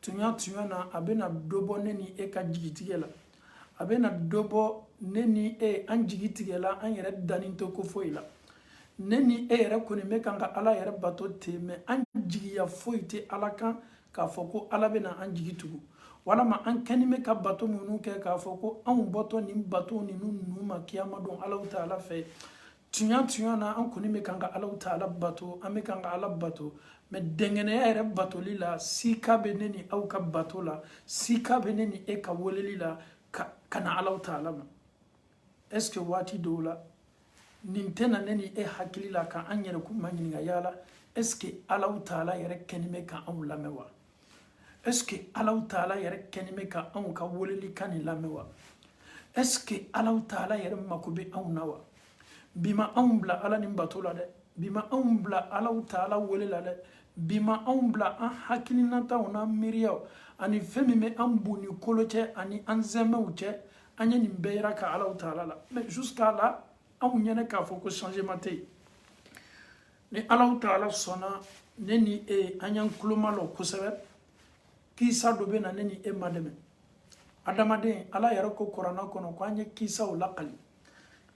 tunya tunya na a bɛna dɔ bɔ ne ni e ka jigitigɛ la a bɛna dɔ bɔ ne ni e an jigi tigɛla an yɛrɛ dannen t'o ko foyi la ne ni e yɛrɛ kɔni bɛ kan ka ala yɛrɛ bato ten mais an jigiya foyi tɛ ala kan k'a fɔ ko ala bɛna an jigi tugu walama an kɛni bɛ ka bato minnu kɛ k'a fɔ ko anw bɔtɔ nin bato ninnu nun ma kiyama don alaw taala fɛ tuɲa tuɲa na an kɔni bɛ kan ka alaw taala bato an bɛ kan ka ala bato mais dɛngɛnɛya yɛrɛ batoli la sika bɛ ne ni aw ka bato la sika bɛ ne ni e ka weleli la ka na alaw taala ma est ce que waati dɔw la nin tɛ na ne ni e hakili la ka an yɛrɛ kuma ɲininka yala est ce que alaw taala yɛrɛ kɛni bɛ ka anw lamɛn wa est ce que alaw taala yɛrɛ kɛni bɛ ka anw ka weleli kan nin lamɛn wa est ce que alaw taala yɛrɛ mako bɛ anw na wa bi ma anw bila ala nin bato la dɛ bi ma anw bila alaw taala wele la dɛ bi ma anw bila an hakilinataw n'an miiriyaw ani fɛn min bɛ an bu ni kolo cɛ ani an zɛmɛw cɛ an ye nin bɛɛ yiraka alaw taala la mais jusqu'à là anw ɲɛnɛ k'a fɔ ko changement tɛ yen ni ala taala sɔnna ne ni e an y'an kulo malɔ kosɛbɛ kisa dɔ bɛna ne ni e madɛmɛ adamaden ala yɛrɛ ko kuranɛ kɔnɔ ko an ye kisaw lakali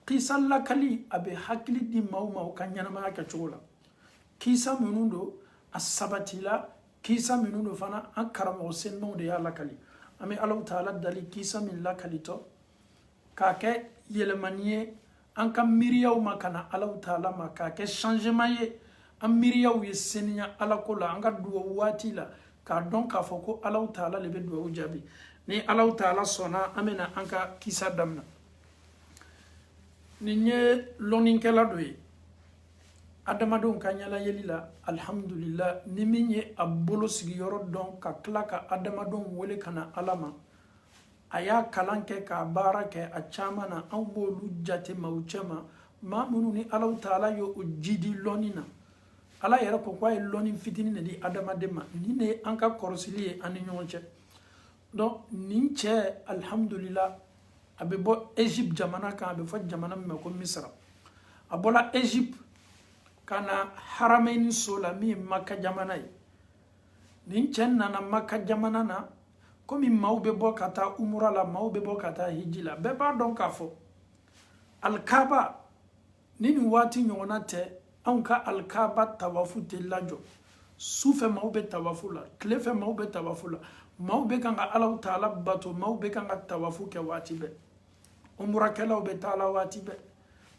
kisa lakali a bɛ hakili di maaw ma u ka ɲɛnamaya kɛcogo la kisa minnu don a sabatila kisa minnu don fana an karamɔgɔ senmaw de y'a lakali an bɛ alaw taala dali kisa min lakalitɔ k'a kɛ yɛlɛmani ye an ka miiriyaw ma ka na alaw taala ma k'a kɛ changement ye an miiriyaw ye seniya alako la an ka duwawu waati la k'a dɔn k'a fɔ ko alaw taala le bɛ duwawu jaabi ni alaw taala sɔnna an bɛna an ka kisa damina nin ye lɔnnikɛla dɔ ye adamadenw ka ɲɛlayeli la alihamudulila ni min ye a bolo sigiyɔrɔ dɔn ka tila ka adamadenw wele ka na ala ma a y'a kalan kɛ k'a baara kɛ a caman na anw b'olu jate maaw cɛma maa minnu ni alaw taala ye o jidi lɔnni na ala yɛrɛ ko k'a ye lɔnni fitini de di adamaden ma nin de ye an ka kɔrɔsili ye an ni ɲɔgɔn cɛ donc nin cɛ alihamudulila a bɛ bɔ egypte jamana kan a bɛ fɔ jamana min ma ko misra a bɔla egypte ka na haramɛni so la min ye maka jamana ye nin cɛ nana maka jamana na komi maaw bɛ bɔ ka taa umura la maaw bɛ bɔ ka taa hiji la bɛɛ b'a dɔn k'a fɔ alikaba ni nin waati ɲɔgɔnna tɛ anw ka alikaba tawafu tɛ lajɔ su fɛ maaw bɛ tawafu la tile fɛ maaw bɛ tawafu la maaw bɛ kan ka alaw taala bato maaw bɛ kan ka tawafu kɛ waati bɛɛ umurakɛlaw bɛ taa la waati bɛɛ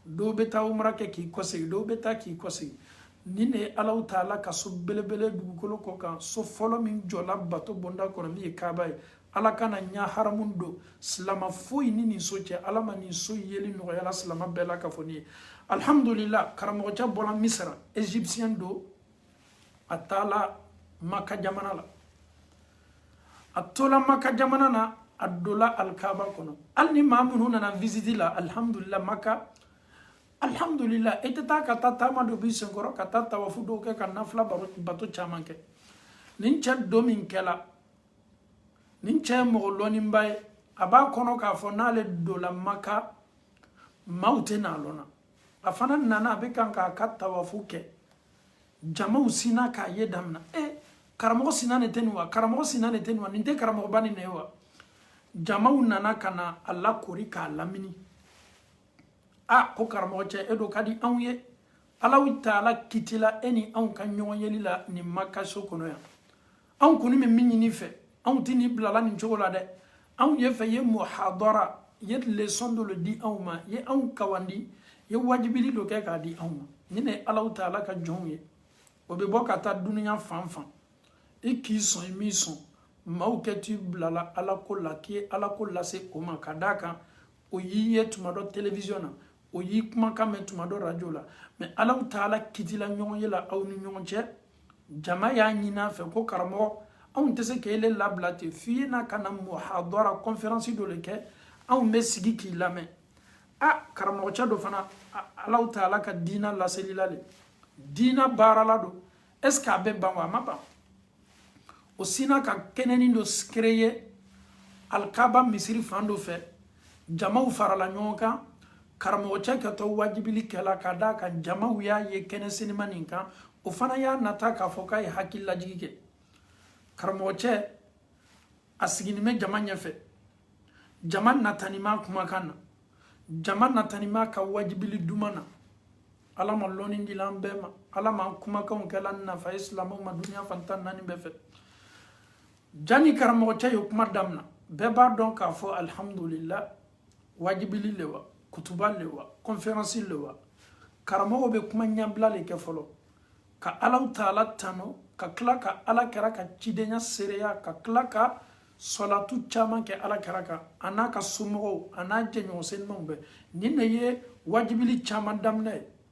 dɔw bɛ taa umura kɛ k'i kɔsegin dɔw bɛ taa k'i kɔsegin nin ne ye alaw taala ka so belebele dugukolo kɔ kan so fɔlɔ min jɔla bato bonda kɔnɔ min ye kaaba ye ala kana ɲa haramu don silama foyi ni nin so cɛ ala ma nin so yeli nɔgɔyala silama bɛɛ la ka fɔ ni ye alhamdulila karamɔgɔcɛ bɔla misira egyptien don a taala maka jamana la a tola maka jamana na a dola alkaba kɔnɔ ale ni maa minnu nana visiti la alihamudulila maka alihamudulila i tɛ taa ka taa taama dɔ b'i senkɔrɔ ka taa tawafu dɔw kɛ ka nafila bato caman kɛ nin cɛ don min kɛla nin cɛ ye mɔgɔ lɔnniba ye a b'a kɔnɔ k'a fɔ n'ale dola maka maaw tɛ n'a lɔnna a fana nana a bɛ kan k'a ka tawafu kɛ jamaw sinna k'a ye damina e eh, karamɔgɔ sinna nin tɛ nin wa karamɔgɔ sinna nin tɛ nin wa nin tɛ karamɔgɔba nin ne wa jamaw nana ka na a lakori k'a lamini a ko karamɔgɔcɛ e do ka di anw ye alaw taala kitila e ni anw ka ɲɔgɔn yeli la nin makaso kɔnɔ yan anw kɔni bɛ min ɲini i fɛ anw tɛ n'i bilala nin cogo la dɛ anw ye fɛ ye muhadara ye leçon dɔ le di anw ma ye anw kawandi ye wajibili dɔ kɛ k'a di anw ma nin ne ye alaw taala ka jɔnw ye o bɛ bɔ ka taa dunuya fan fan i k'i sɔn i m'i sɔn maaw kɛt'i bilala ala ko la k'i ye ala ko lase o ma ka d'a kan o y'i ye tuma dɔ telewisiyɔn na o y'i kumakan mɛn tuma dɔ rajo la mais alaw taala kitila ɲɔgɔn ye la aw ni ɲɔgɔn cɛ jama y'a ɲini a fɛ ko karamɔgɔ anw tɛ se k'ele labila ten f'i ye na ka na muhadara conférence dɔ le kɛ anw bɛ sigi k'i lamɛn a karamɔgɔcɛ do fana alaw taala ka diina laselila le diina baarala don est ce que a bɛ ban wa a ma ban o sinna ka kɛnɛni dɔ créer alikaba misiri fan dɔ fɛ jamaw farala ɲɔgɔn kan karamɔgɔcɛ kɛtɔ wajibili kɛla ka d'a kan jamaw y'a ye kɛnɛ senima nin kan o fana y'a nata k'a fɔ k'a ye hakililajigi kɛ karamɔgɔcɛ a sigini bɛ jama ɲɛfɛ jama natani b'a kumakan na jama natani b'a ka wajibili duman na ala ma lɔnni dila an bɛɛ ma ala ma kumakanw kɛla nafa ye silamɛw ma duniya fan tan naani bɛɛ fɛ jani karamɔgɔcɛ ye kuma damina bɛɛ b'a dɔn k'a fɔ alihamudulila wajibili le wa kutuba le wa kɔnferansi le wa karamɔgɔ bɛ kuma ɲɛbila le kɛ fɔlɔ ka alaw taala tano ka tila ka ala kira ka cidenya seereya ka tila ka sɔlatu caman kɛ ala kira kan a n'a ka somɔgɔw a n'a jɛɲɔgɔn senimaw bɛɛ nin de ye wajibili caman damina ye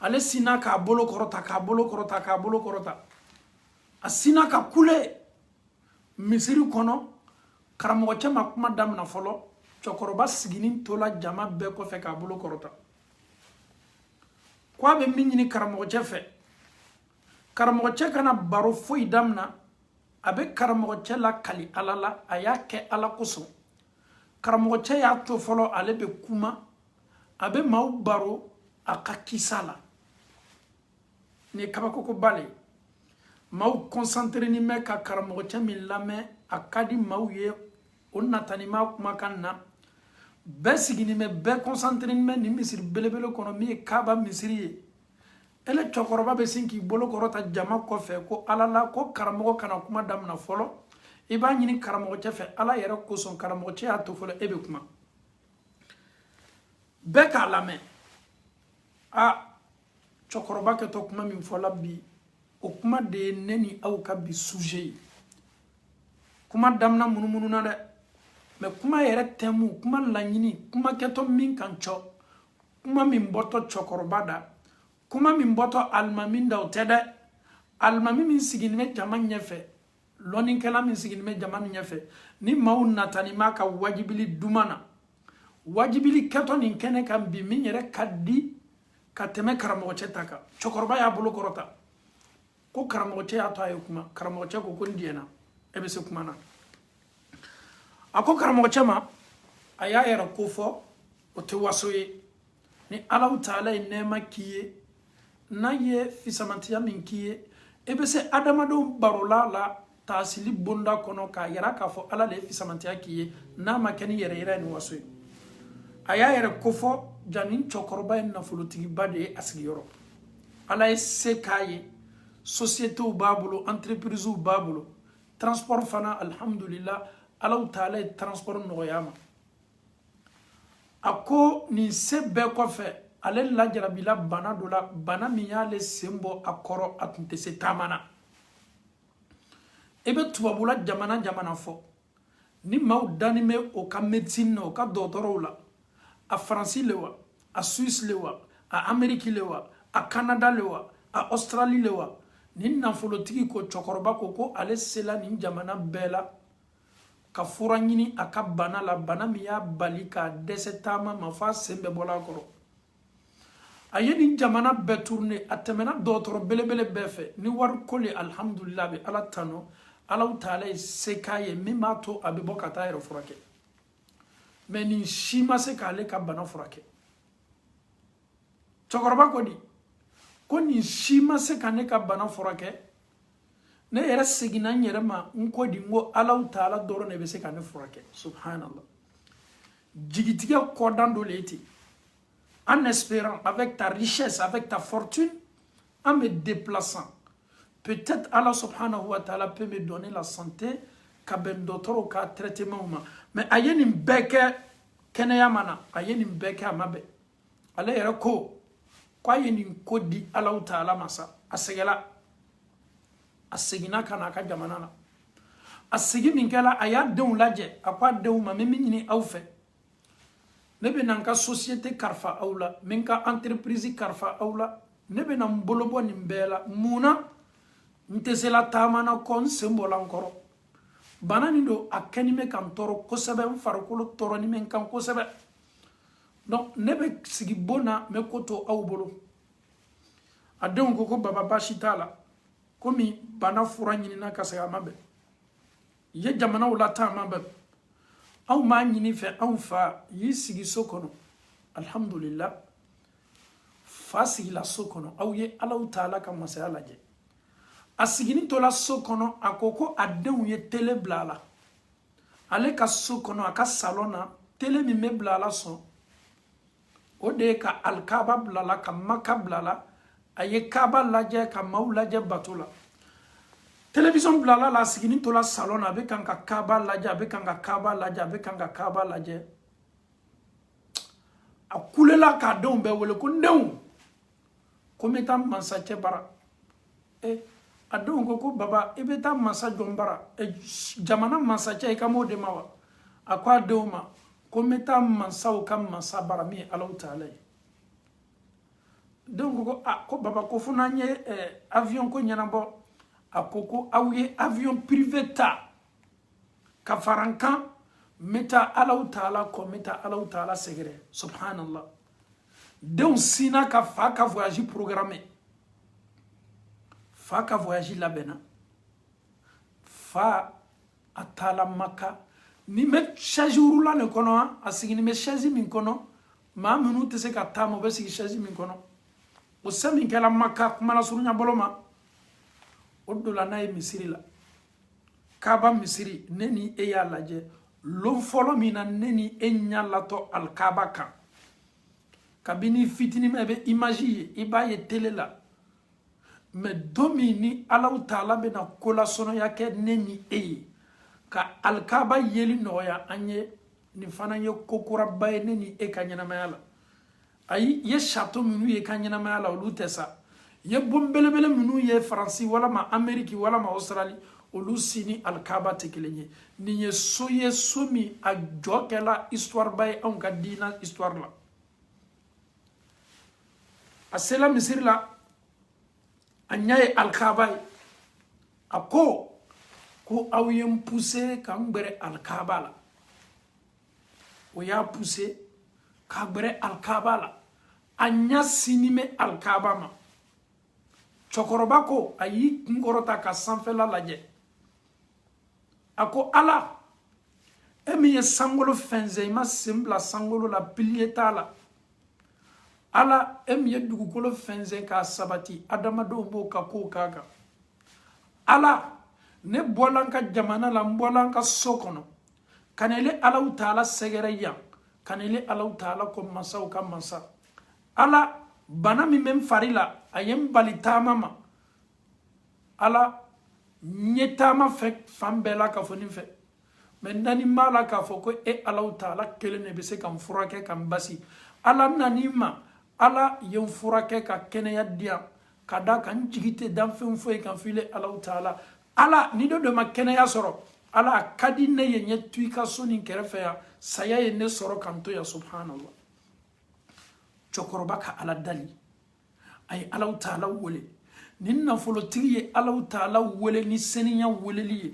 ale sinna k'a bolo kɔrɔta k'a bolo kɔrɔta k'a bolo kɔrɔta a sinna ka kule misiri kɔnɔ karamɔgɔcɛ ma kuma damina fɔlɔ cɛkɔrɔba siginin tola jama bɛɛ kɔfɛ k'a bolo kɔrɔta ko a bɛ min ɲini karamɔgɔcɛ fɛ karamɔgɔcɛ kana baro foyi damina a bɛ karamɔgɔcɛ lakali ala la a y'a kɛ ala kosɔn karamɔgɔcɛ y'a to fɔlɔ ale bɛ kuma a bɛ maaw baro a ka kisa la nin ye kabakokoba le ye maaw kɔnsanterenin bɛ ka karamɔgɔcɛ min lamɛn a ka di maaw ye o natanin b'a kumakan na bɛɛ siginin bɛ bɛɛ kɔnsanterenin bɛ nin misiri belebele kɔnɔ min ye kaba misiri ye ele cɛkɔrɔba bɛ sin k'i bolo kɔrɔta jama kɔfɛ ko ala la ko karamɔgɔ kana kuma damina fɔlɔ i b'a ɲini karamɔgɔcɛ fɛ ala yɛrɛ kosɔn karamɔgɔcɛ y'a to fɔlɔ e bɛ kuma bɛɛ k'a lamɛn a cɛkɔrɔba kɛtɔ kuma min fɔla bi o kuma de ye ne ni aw ka bi suje ye kuma damina munumununa dɛ mɛ kuma yɛrɛ tɛmu kuma laɲini kuma kɛtɔ min kan cɔ kuma min bɔtɔ cɛkɔrɔba da kuma min bɔtɔ alimami da o tɛ dɛ alimami min siginin bɛ jama ɲɛfɛ lɔnnikɛla min siginin bɛ jama nin ɲɛfɛ ni maaw natanin b'a ka wajibili duman na wajibili kɛtɔ nin kɛnɛ kan bi min yɛrɛ ka di ka tɛmɛ karamɔgɔcɛ ta kan cɛkɔrɔba y'a bolo kɔrɔta ko karamɔgɔcɛ y'a to a ye kuma karamɔgɔcɛ ko ko n diɲɛna e bɛ se kuma na a ko karamɔgɔcɛ ma a y'a yɛrɛ kofɔ o tɛ waso ye ni ala taala ye nɛɛma k'i ye n'a ye fisamantiya min k'i ye i bɛ se adamadenw barola la taasili bonda kɔnɔ k'a yira k'a fɔ ala de ye fisamantiya k'i ye n'a ma kɛ ni yɛrɛyira ni waso ye a y'a yɛrɛ kofɔ jaa nin cɛkɔrɔba ye nafolotigiba de ye a sigiyɔrɔ ala ye se k'a ye sosiyetew b'a bolo entreprisew b'a bolo transport fana alihamudulila ala taala ye transport nɔgɔya a ma a ko nin se bɛɛ kɔfɛ ale lajarabila bana dɔ la bana min y'ale sen bɔ a kɔrɔ a tun tɛ se taama na i bɛ tubabula jamana jamana fɔ ni maaw danin bɛ o ka médecine na o ka dɔgɔtɔrɔw la a faransi le wa a suisse le wa a ameriki le wa a kanada le wa a australie le wa nin nafolotigi ko cɛkɔrɔba ko ko ale sela nin jamana bɛɛ la ka fura ɲini a ka bana la bana min y'a bali k'a dɛsɛ taama ma f'a sen bɛɛ bɔla a kɔrɔ a ye nin jamana bɛɛ tourné a tɛmɛna dɔgɔtɔrɔ belebele bɛɛ fɛ ni wari ko le alhamdulillah a bɛ ala tano Allahu ta'ala ye se k'a ye min b'a to a bɛ bɔ ka taa a yɛrɛ furakɛ mais nin si ma se k'ale ka bana furakɛ cɛkɔrɔba ko di ko nin si ma se ka ne ka bana furakɛ ne yɛrɛ seginna n yɛrɛ ma n ko di n ko Allahu ta'ala dɔrɔn de bɛ se ka ne furakɛ subhanallah jigitigɛ kɔdan dɔ le ye ten en espérant avec ta richesse avec ta fortune en me déplaçant peut-être Allah subhanahu wa ta'ala peut me donner la santé ka bɛn dɔgɔtɔrɔw ka traitement ma mais a ye nin bɛɛ kɛ kɛnɛya ma na a ye nin bɛɛ kɛ a ma bɛn ale yɛrɛ ko k'a ye nin ko di Allahu ta'ala ma sa a sɛgɛla a seginna ka na a ka jamana na a segi min kɛla a y'a denw lajɛ a ko a denw ma n bɛ min ɲini aw fɛ ne bɛ na n ka société kalifa aw la n bɛ n ka entreprise kalifa aw la ne bɛ na n bolo bɔ nin bɛɛ la mun na n tɛ se la taama na kɔ n sen bɔla n kɔrɔ bana nin don a kɛni bɛ ka n tɔɔrɔ kosɛbɛ n farikolo tɔɔrɔni bɛ n kan kosɛbɛ donc ne bɛ sigi bon na n bɛ ko to aw bolo a denw ko ko baba baasi t'a la komi bana fura ɲinina ka segin a ma bɛn i ye jamanaw lataa a ma bɛn anw m'a ɲini i fɛ anw fa y'i sigi so kɔnɔ alhamdulillah fa sigila so kɔnɔ aw ye Allahu ta'ala ka masaya lajɛ a sigini tola so kɔnɔ a ko ko a denw ye tele bila a la ale ka so kɔnɔ a ka salon na tele min bɛ bila a la sɔn o de ye ka alikaba bila a la ka maka bila a la a ye kaba lajɛ ka maaw lajɛ bato la télévision bilala a la a sigini tola salon na a bɛ kan ka kaba lajɛ a bɛ kan ka kaba lajɛ a bɛ kan ka kaba lajɛ a kulela k'a denw bɛɛ wele ko n denw ko n bɛ taa mansacɛ bara ɛ a denw ko ko baba i bɛ taa mansa jɔn bara jamana mansacɛ i kan b'o de ma wa a ko a denw ma ko n bɛ taa mansaw ka mansa bara min ye Allahu ta'ala ye denw ko ko a ko baba ko fo n'an ye avion ko ɲɛnabɔ a ko ko aw ye avion privé ta ka fara n kan n bɛ taa Allahu ta'ala kɔ n bɛ taa Allahu ta'ala sɛgɛrɛ subhanallah denw sinna ka fa ka voyage programmé fa ka voyage labɛnna fa a taala maka nin bɛ chaise roulant le kɔnɔ a sigini bɛ chaise min kɔnɔ maa minnu tɛ se ka taama u bɛ sigi chaise min kɔnɔ o se min kɛla maka kuma lasurunya bolo ma o dola n'a ye misiri la kaba misiri ne ni e y'a lajɛ lon fɔlɔ min na ne ni e ɲa latɔ alikaba kan kabini fitinima i bɛ imaji ye i b'a ye tele la mɛ don min ni alaw taala bɛna kolasɔnɔya kɛ ne ni e ye ka alikaba yeli nɔgɔya an ye nin fana ye ko kuraba ye ne ni e ka ɲɛnamaya la ayi ye sato minnu ye ka ɲɛnamaya la olu tɛ sa ye bon belebele minnu ye faransi walama ameriki walama australi olu si ni alikaba tɛ kelen ye nin ye so ye so min a jɔ kɛla histoire ba ye anw ka diina histoire la a sela misiri la a ɲa ye alikaba ye a ko ko aw ye n puse ka n gbɛrɛ alikaba la o y'a puse k'a gbɛrɛ alikaba la a ɲa sinnin bɛ alikaba ma cɛkɔrɔba ko a y'i kun kɔrɔta ka sanfɛla lajɛ a ko ala e min ye sankolo fɛnsɛn i ma sen bila sankolo la piliye t'a la ala e min ye dugukolo fɛnsɛn k'a sabati adamadenw b'o ka kow k'a kan ala ne bɔla n ka jamana la n bɔla n ka so kɔnɔ ka na ile alaw taala sɛgɛrɛ yan ka na ile alaw taala kɔ mansaw ka mansa ala bana min bɛ n fari la a ye n bali taama ma ala n ye taama fɛ fan bɛɛ la ka fɔ nin fɛ mɛ n nanin b'a la k'a fɔ ko e alaw taala kelen ne bɛ se ka n furakɛ ka n basi ala n nanin i ma ala ye n furakɛ ka kɛnɛya di yan k'a d'a kan n jigi tɛ danfɛn foyi kan fo ile alaw taala ala ni dɔ dɔ ma kɛnɛya sɔrɔ ala a ka di ne ye n ye to i ka so nin kɛrɛfɛ yan saya ye ne sɔrɔ ka n to yan subhanallah cɛkɔrɔba ka ala dali a ye alaw taala wele nin nafolotigi ye alaw taala wele ni seniya weleli ye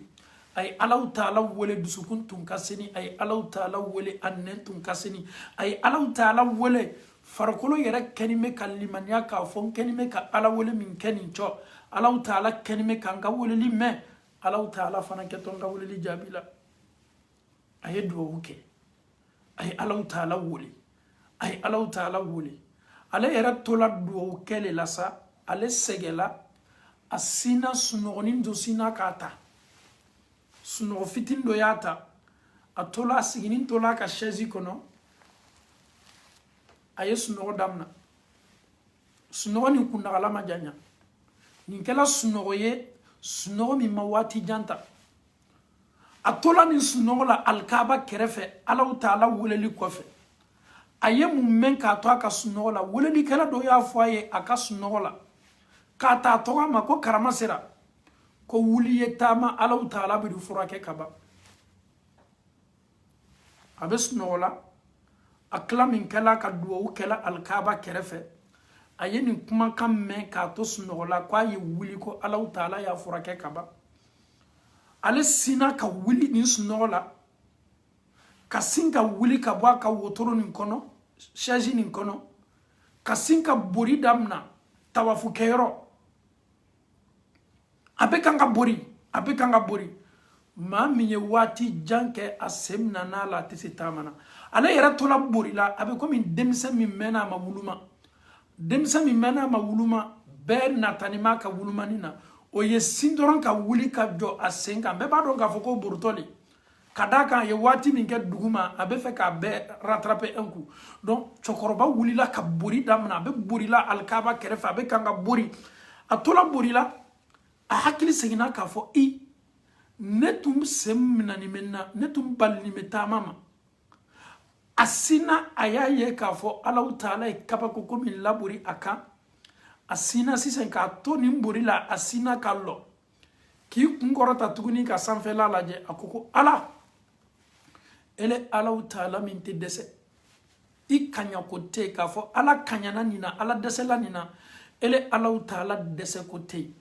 a ye alaw taala wele dusukun tun ka seni a ye alaw taala wele a nɛn tun ka seni a ye alaw taala wele farikolo yɛrɛ kɛni bɛ ka limaniya k'a fɔ n kɛni bɛ ka ala wele min kɛ nin cɔ alaw taala kɛni bɛ ka n ka weleli mɛn alaw taala fana kɛtɔ n ka weleli jaabi la a ye duwawu kɛ a ye alaw taala wele a ye alaw taala wele ale yɛrɛ tola duwawu kɛ le la sa ale sɛgɛla a sina sunɔgɔnin dɔ sina k'a ta sunɔgɔ fitini dɔ y'a ta a tola a siginin tola a ka sɛzi kɔnɔ a ye sunɔgɔ damina sunɔgɔ nin kunnagala ma janya nin kɛla sunɔgɔ ye sunɔgɔ min ma waati jan ta a tola nin sunɔgɔ la alikaba kɛrɛfɛ alaw taala weleli kɔfɛ a ye mun mɛn k'a to a ka sunɔgɔ la welelikɛla dɔ y'a fɔ a ye a ka sunɔgɔ la k'a ta tɔgɔ ma ko karama sera ko wuli i ye taama alaw taala b'i furakɛ ka ban a bɛ sunɔgɔ la a tila min kɛla ka duwawu kɛla alikaba kɛrɛfɛ a ye nin kumakan mɛn k'a to sunɔgɔ la k'a ye wuli ko alaw taala y'a furakɛ ka ban ale sinna ka wuli nin sunɔgɔ la ka sin ka wuli ka bɔ a ka wotoro nin kɔnɔ sɛzi nin kɔnɔ ka sin ka bori damina tawafu kɛyɔrɔ a bɛ kan ka bori a bɛ kan ka bori maa min ye waati jan kɛ a sen minana a la a tɛ se taama na ale yɛrɛ tola borila a bɛ komi denmisɛn min mɛnna a ma wuluma denmisɛn min mɛnna a ma wuluma bɛɛ natani b'a ka wulumani na o ye sin dɔrɔn ka wuli ka jɔ a sen kan bɛɛ b'a dɔn k'a fɔ ko boritɔ de ka d'a kan a ye waati min kɛ duguma a bɛ fɛ k'a bɛɛ rattraper un coup donc cɛkɔrɔba wulila ka bori daminɛ a bɛ borila alikaba kɛrɛfɛ a bɛ kan ka bori a tola borila a hakili seginna k'a fɔ i ne tun sen minɛni bɛ n na ne tun balini bɛ taama ma a sinna a y'a ye k'a fɔ alaw taala ye kabako ko min labori a kan a sinna sisan k'a to nin bori la a sinna ka lɔ k'i kun kɔrɔta tuguni ka sanfɛla lajɛ a ko ko ala ele alaw taala min tɛ dɛsɛ i kaɲako tɛ yen k'a fɔ ala kaɲana nin na ala dɛsɛla nin na ele alaw taala dɛsɛko tɛ yen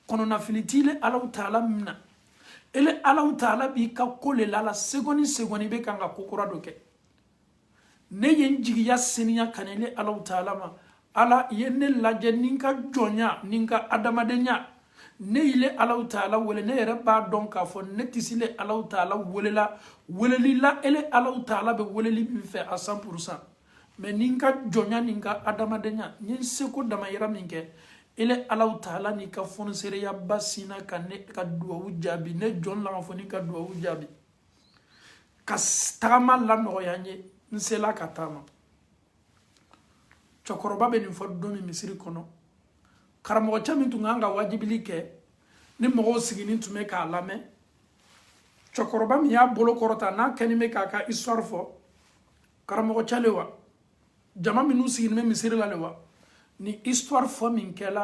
kɔnɔnafili t'ile alaw taala min na ele alaw taala b'i ka ko le la la segɔni segɔni bɛ kan ka ko kura dɔ kɛ ne ye n jigiya seniya ka n'ile alaw taala ma ala ye ne lajɛ ni n ka jɔnya ni n ka adamadenya ne y'ile alaw taala wele ne yɛrɛ b'a dɔn k'a fɔ ne tɛ se ile alaw taala wele la weleli la ele alaw taala bɛ weleli min fɛ à cent pour cent mais ni n ka jɔnya ni n ka adamadenya n ye n seko damayira min kɛ ele alaw taala n'i ka fonisereyaba sinna ka ne ka duwawu jaabi ne jɔn lama fo ni ka duwawu jaabi ka tagama lanɔgɔya n ye n sela ka taama cɛkɔrɔba bɛ nin fɔ don min misiri kɔnɔ karamɔgɔcɛ min tun kan ka wajibili kɛ ni mɔgɔw sigini tun bɛ k'a lamɛn cɛkɔrɔba min y'a bolo kɔrɔta n'a kɛni bɛ k'a ka histoire fɔ karamɔgɔcɛ le wa jama minnu siginin bɛ misiri la le wa nin histoire fɔ min kɛla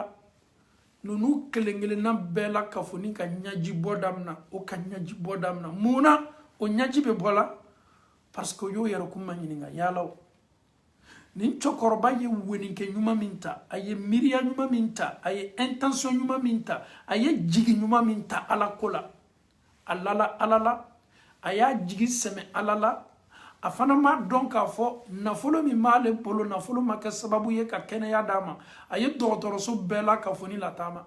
ninnu kelen kelenna bɛɛ lakafonin ka ɲaji bɔ damina o ka ɲaji bɔ damina mun na o ɲaji bɛ bɔ la parce que o y'o yɛrɛkun ma ɲininka yala o nin cɛkɔrɔba ye weninkɛ ɲuman min ta a ye miiriya ɲuman min ta a ye intention ɲuman min ta a ye jigi ɲuman min ta ala ko la a lala ala la a y'a jigi sɛmɛ ala la a fana m'a dɔn k'a fɔ nafolo min b'ale bolo nafolo ma kɛ sababu ye ka kɛnɛya d'a ma a ye dɔgɔtɔrɔso bɛɛ lakafonin lataama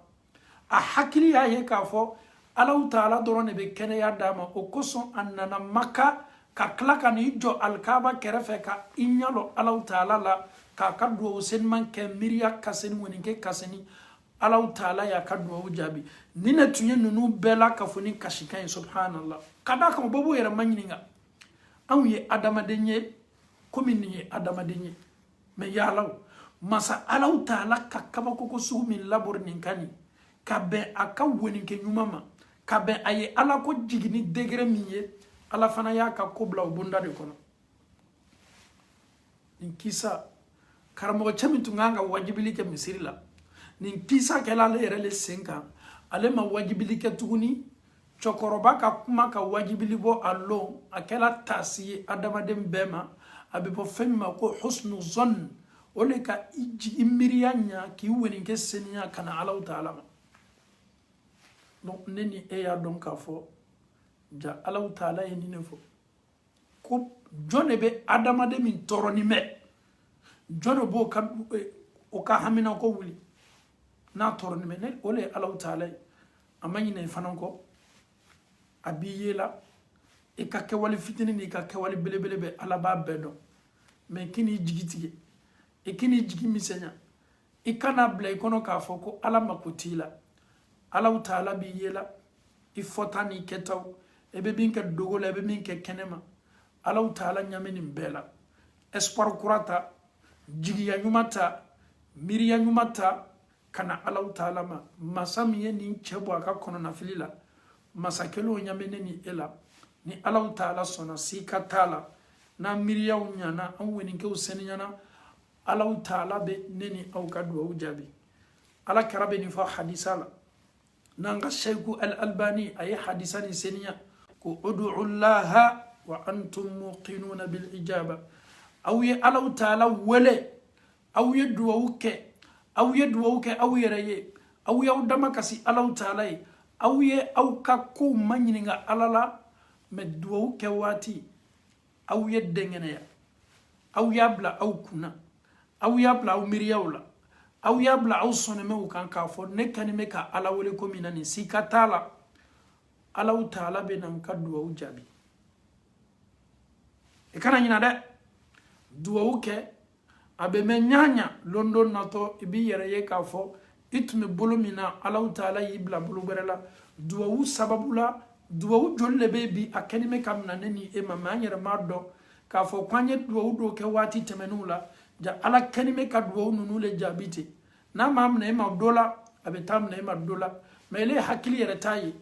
a hakili y'a ye k'a fɔ alaw taala dɔrɔn de bɛ kɛnɛya d'a ma o kosɔn a nana maka ka tila ka n'i jɔ alikaba kɛrɛfɛ ka i ɲɛ lɔ alaw taala la k'a ka duwawu seniman kɛ miiriya ka seni weninkɛ ka seni alaw taala y'a ka duwawu jaabi nin ne tun ye ninnu bɛɛ lakafonin kasikan ye subhanallah ka d'a kan o bɛɛ b'o yɛrɛ ma ɲininka anw ye adamaden ye komi nin ye adamaden ye mais yala masa alaw taala ka kabakoko sugu min labori nin kan nin ka bɛn a ka woninkɛ ɲuman ma ka bɛn a ye ala ko jiginni degré min ye ala fana y'a ka ko bila o bonda de kɔnɔ nin kisa karamɔgɔcɛ min tun kan ka wajibili kɛ misiri la nin kisa kɛla ale yɛrɛ le sen kan ale ma wajibili kɛ tuguni cɛkɔrɔba ka kuma ka wajibili bɔ a lon a kɛla taasi ye adamaden bɛɛ ma a bɛ fɔ fɛn min ma ko husnu zɔn o le ka i miiriya ɲa k'i weninkɛ seniya ka na alaw taala ma donc ne ni e y'a dɔn k'a fɔ jaa alaw taala ye nin ne fɔ ko jɔn de bɛ adamaden min tɔɔrɔnin bɛ jɔn de b'o ka eh, o ka haminako wuli n'a tɔɔrɔnin bɛ ne o le ye alaw taala ye a ma ɲinɛ i fana kɔ a b'i ye la i ka kɛwale fitinin n'i ka kɛwale belebele bɛɛ ala b'a bɛɛ dɔn mais kan'i jigi tigɛ i kan'i jigi misɛnya i kana bila i kɔnɔ k'a fɔ ko ala mako t'i la alaw taala b'i ye la i fɔta n'i kɛtaw i bɛ min kɛ dogo la i bɛ min kɛ kɛnɛma alaw taala ɲa bɛ nin bɛɛ la espoir kura ta jigiya ɲuman ta miiriya ɲuman ta ka na alaw taala ma masa min ye nin cɛ bɔ a ka kɔnɔnafili la masa kelen o ɲa bɛ ne ni e la ni alaw taala sɔnna sika t'a la n'an miiriyaw ɲana an weninkɛw seniyana alaw taala bɛ ne ni aw ka duwawu jaabi ala kira bɛ nin fɔ hadisa la n'an ka seyiku al albani a ye hadisa nin seniya ko udu llaha wa antum muqinuna bil ijaba aw ye alaw taala wele aw ye duwawu kɛ aw ye duwawu kɛ aw yɛrɛ ye aw y'aw damakasi alaw taala ye aw ye aw ka kow maɲininka ala la mɛ duwawu kɛ waati aw ye dɛngɛnɛya aw y'a bila aw kunna aw y'a bila aw miiriyaw la aw y'a bila aw sɔnɔmɛw kan k'a fɔ ne kani bɛ ka ala wele ko min na nin sika t'a la alaw taala bɛ na n ka duwawu jaabi i kana ɲina dɛ duwawu kɛ a bɛ mɛn ɲaɲa lon dɔ natɔ i b'i yɛrɛ ye k'a fɔ i tun bɛ bolo min na alaw taala y'i bila bolo gbɛrɛ la duwawu sababu la duwawu joli le bɛ bi a kɛni bɛ ka minɛ ne ni e ma mɛ an yɛrɛ m'a dɔn k'a fɔ k'an ye duwawu dɔw kɛ waati tɛmɛnenw la ja ala kɛni bɛ ka duwawu ninnu le jaabi ten n'a m'a minɛ e ma dɔ la a bɛ t'a minɛ e ma dɔ la mɛ ele hakili yɛrɛ t'a ye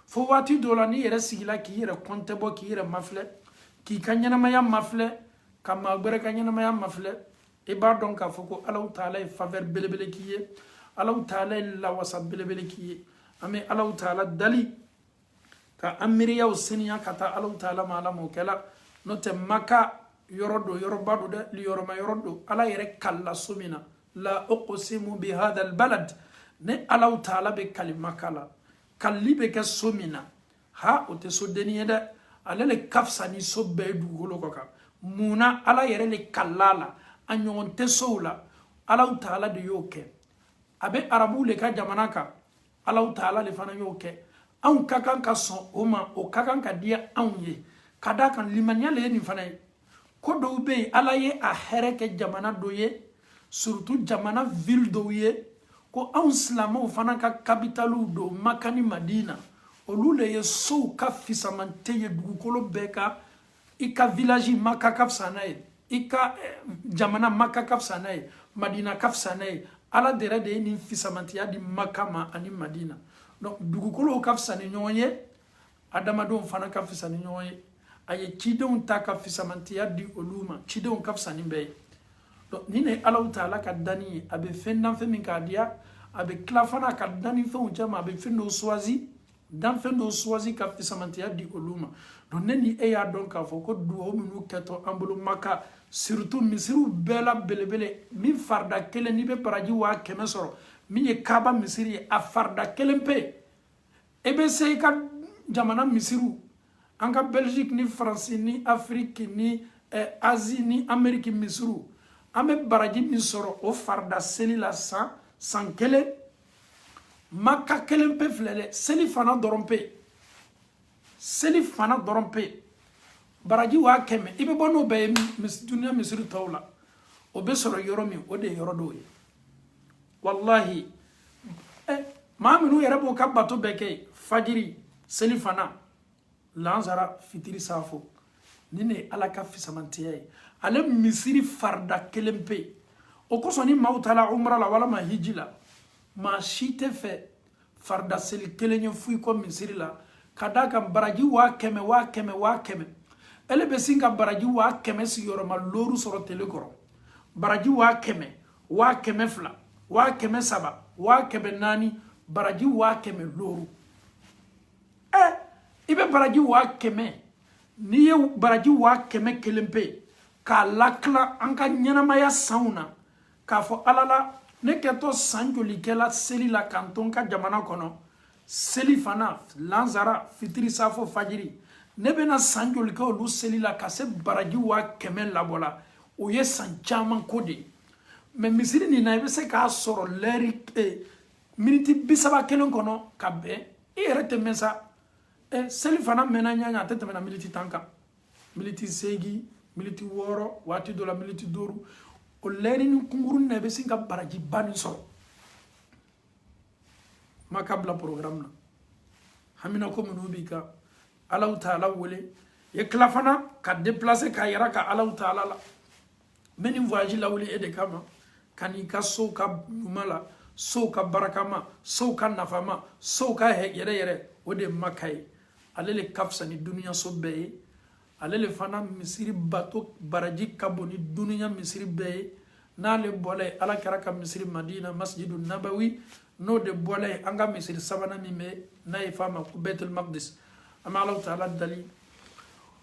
fo waati dɔ la n'i yɛrɛ sigila k'i yɛrɛ kɔntɛbɔ k'i yɛrɛ mafilɛ k'i ka ɲɛnamaya mafilɛ ka maa gbɛrɛ ka ɲɛnamaya mafilɛ i b'a dɔn k'a fɔ ko alaw taala ye faveur belebele k'i ye alaw taala ye lawasa belebele k'i ye an bɛ alaw taala dali ka an miiriyaw seniya ka taa alaw taala ma ala m'o kɛla n'o tɛ maka yɔrɔ don yɔrɔba don dɛ liyɔrɔma yɔrɔ don ala yɛrɛ kalila so min na la uqsimu bi hadha albalad ne alaw taala bɛ kali maka la kalili bɛ kɛ so min na ha o tɛ sodenni ye dɛ ale le ka fisa ni so bɛɛ ye dugukolo kɔ kan mun na ala yɛrɛ le kalil'a la a ɲɔgɔn tɛ sow la alaw taala de y'o kɛ a bɛ arabuw le ka jamana kan alaw taala le fana y'o kɛ anw ka kan ka sɔn o ma o ka kan ka diya anw ye ka d'a kan limaniya le ye nin fana ye ko dɔw bɛ yen ala ye a hɛrɛ kɛ jamana dɔ ye surtout jamana ville dɔw ye ko anw silamɛw fana ka kapitaliw don maka ni madina olu le ye sow ka fisamante ye dugukolo bɛɛ kan i ka village maka ka fisa n'a ye i ka eh, jamana maka ka fisa n'a ye madina ka fisa n'a ye ala de yɛrɛ de ye nin fisamantiya di maka ma ani madina donc dugukolow ka fisa ni ɲɔgɔn ye adamadenw fana ka fisa ni ɲɔgɔn ye a ye cidenw ta ka fisamantiya di olu ma cidenw ka fisa ni bɛɛ ye donc nin ne alaw taala ka danni ye a bɛ fɛn dan fɛn min k'a diya a bɛ tila fana ka danni fɛnw cɛ ma a bɛ fɛn dɔw suwazi danfɛn dɔw suwazi ka fisamantiya di olu ma donc ne ni e y'a dɔn k'a fɔ ko duwawu minnu kɛtɔ an bolo maka surtout misiriw bɛɛ la belebele min farida kelen n'i bɛ baraji waa kɛmɛ sɔrɔ min ye kaaba misiri ye a farida kelen pe e bɛ se i ka jamana misiriw an ka belgique ni faransi ni afiriki ni eh, azi ni ameriki misiriw an bɛ baraji min sɔrɔ o farida seli la san kelen maka kelen pe filɛ dɛ seli fana dɔrɔn pe seli fana dɔrɔn pe baraji waa kɛmɛ i bɛ bɔ n'o bɛɛ ye duniya misiri tɔw la o bɛ sɔrɔ yɔrɔ min o de ye yɔrɔ dɔw ye walahi eh, maa minnu yɛrɛ b'o ka bato bɛɛ kɛ fajiri seli fana lansara fitiri saafo nin ne ye ala ka fisamantiya ye ale misiri farida kelen pe o kosɔn ni maaw taala umra la walama hiji la maa si tɛ fɛ farida seli kelen ye fɔ i kɔ misiri la ka d'a kan baraji waa kɛmɛ waa kɛmɛ waa kɛmɛ ele bɛ sin ka baraji waa kɛmɛ sigiyɔrɔma looru sɔrɔ tele kɔrɔ baraji waa kɛmɛ waa kɛmɛ fila waa kɛmɛ saba waa kɛmɛ naani baraji waa kɛmɛ looru ɛ i bɛ baraji waa kɛmɛ n'i ye baraji waa kɛmɛ kelen pe k'a latila an ka ɲɛnamaya sanw na k'a fɔ ala la ne kɛtɔ san joli kɛla seli la ka n to n ka jamana kɔnɔ seli fana lanzara fitiri safo fajiri ne bɛna san joli kɛ olu seli la ka se baraji waa kɛmɛ labɔ la o ye san caman ko de ye mɛ misiri nin na i bɛ se k'a sɔrɔ lɛri eh, miniti bi saba kelen kɔnɔ ka bɛn i yɛrɛ tɛ mɛn sa eh, seli fana mɛnna ɲaɲa a tɛ tɛmɛna miniti tan kan miniti seegin miniti wɔɔrɔ waati dɔ la miniti duuru o lɛrinin kunkurunin na i bɛ sin ka barajiba nin sɔrɔ maa k'a bila programme na hamina ko minnu b'i kan alahu taala wele i ye tila fana ka déplacer k'a yira ka alahu taala la n bɛ nin voyage lawuli e de kama ka n'i ka sow ka ɲuman la sow ka barakama sow ka nafama sow ka yɛrɛ yɛrɛ o de maka ye ale le ka fisa ni duniyaso bɛɛ ye ale le fana misiri bato baraji ka bon ni duniya misiri bɛɛ ye n'ale bɔla yen ala kira ka misiri madina masjidu nabawi n'o de bɔla yen an ka misiri sabanan min bɛ n'a ye f'a ma ko bɛtul maqdis an bɛ alahu taala dali